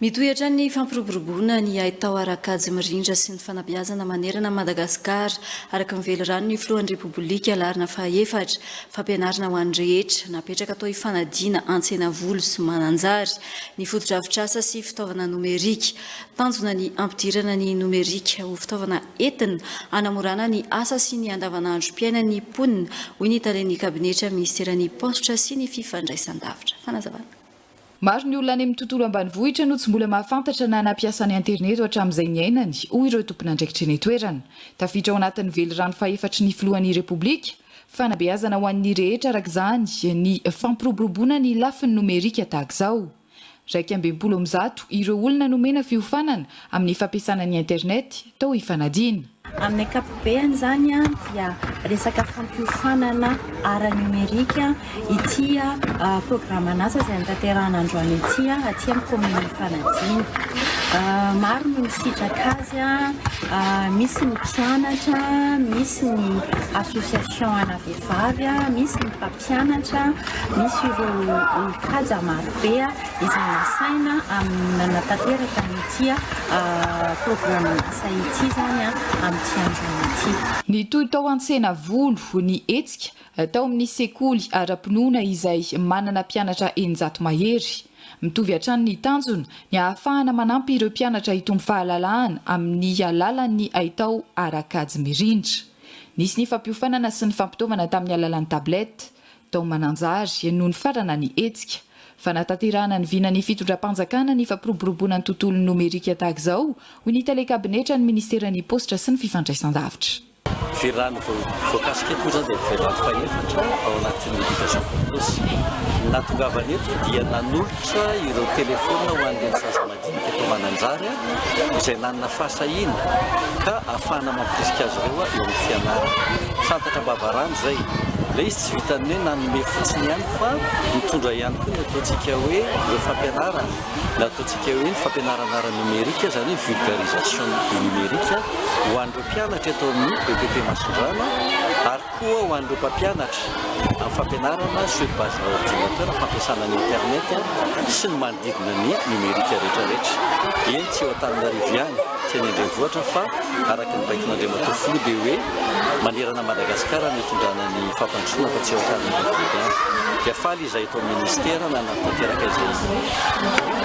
Mitohy hatrany ny fampiroboroboana ny haitao ara-kajy mirindra sy ny fanabeazana manerana an'i Madagasikara, araka ny velirano ny filohan'ny Repoblika Larina fahefatra. Fampianarana ho an'ny rehetra, napetraka atao hifanadiana Antsenavolo sy Mananjary, ny fotodrafitrasa sy fitaovana nomerika. Tanjona ny hampidirana ny nomerika ho fitaovana entina hanamorana ny asa sy ny andavanandrom-piainan'ny mponina, hoy ny talen'ny kabinetra minisiteran'ny Paositra sy ny fifandraisandavitra. Fanazavana. Maro ny olona any amin'ny tontolo ambanivohitra no tsy mbola mahafantatra na nampiasa ny aterineto hatramin'izay niainany, hoy ireo tompon'andraikitra eny an-toerana. Tafiditra ao anatin'ny velirano fahefatry ny filohan'ny Repoblika, fanabeazana ho an'ny rehetra araka izany ny fampiroboroboana ny lafiny nomerika tahaka izao. Iraika amby enimpolo amin'ny zato ireo olona nomena fiofanana amin'ny fampiasana ny Internet tao Ifanadiana. Amin'ny ankapobeny izany dia resaka fampiofanana ara-nomerika ity programan'asa izay notanterahina androany ity aty amin'ny kaominina Ifanadiana. Maro no nisitraka azy, misy ny mpianatra, misy ny association ana vehivavy, misy ny mpampianatra. mpianatra, misy ireo olon-kaja maro be izay nasaina amin'ny nanatanteraka an'ity programan'asa ity izany amin'ity andron'ny ity. Nitohy tao Antsenavolo ny hetsika tao amin'ny sekoly ara-pinoana izay manana mpianatra eninjato mahery. Mitovy hatrany ny tanjona, ny hahafahana manampy ireo mpianatra hitombo fahalalahana amin'ny alalan'ny haitao ara-kajy mirindra. Nisy ny fampiofanana sy ny fampitaovana tamin'ny alalan'ny tablette, tao Mananjary, nony farana ny hetsika. Fanatanterahana ny vinan'ny fitondram-panjakana ny fampiroboroboana ny tontolon'ny nomerika tahaka izao, hoy ny tale kabinetran'ny minisiteran'ny Paositra sy ny fifandraisandavitra. Virany voakasika eto moa izany dia virany fahefatra ao anatin'ny Education for tous. Ny nahatongavany eto dia nanolotra ireo telefaonina ho an'ireny zaza maniry. ny fitomana anjara izay nanana fahasahiana ka afahana mampirisika azy ireo eo amin'ny fianarana. Santatra am-bavarano izay. Ilay izy tsy vitan'ny hoe nanome fotsiny ihany fa nitondra ihany koa ny ataontsika hoe ireo fampianarana, ny ataontsika hoe ny fampianarana ara-nomerika, izany hoe vulgarisation du numérique ho an'ireo mpianatra eto amin'ny EPP Masindrana ary. Koa ho an'ireo mpampianatra amin'ny fampianarana sur base ordinateur, fampiasana ny internet sy ny manodidina ny numérique rehetra rehetra. Eny tsy eo Antananarivo ihany sy eny an-drenivohitra fa araka ny baikon'Andriamatoa Filoha dia hoe manerana Madagasikara no hitondrana ny fampandrosoana fa tsy eo Antananarivo eto ihany. Dia faly izahay eto amin'ny Ministera nanatanteraka izay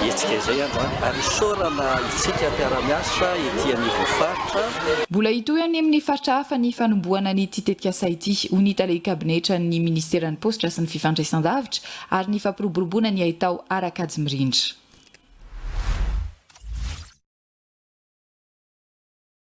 hetsika izay androany ary isaorana isika mpiara-miasa ety anivon'ny faritra. Mbola hitohy any amin'ny faritra hafa ny fanombohana an'ity tetikasa ity, hoy ny tale kabinetran'ny minisiteran'ny Paositra sy ny fifandraisan-davitra ary ny fampiroboroboana ny haitao ara-kajy mirindra.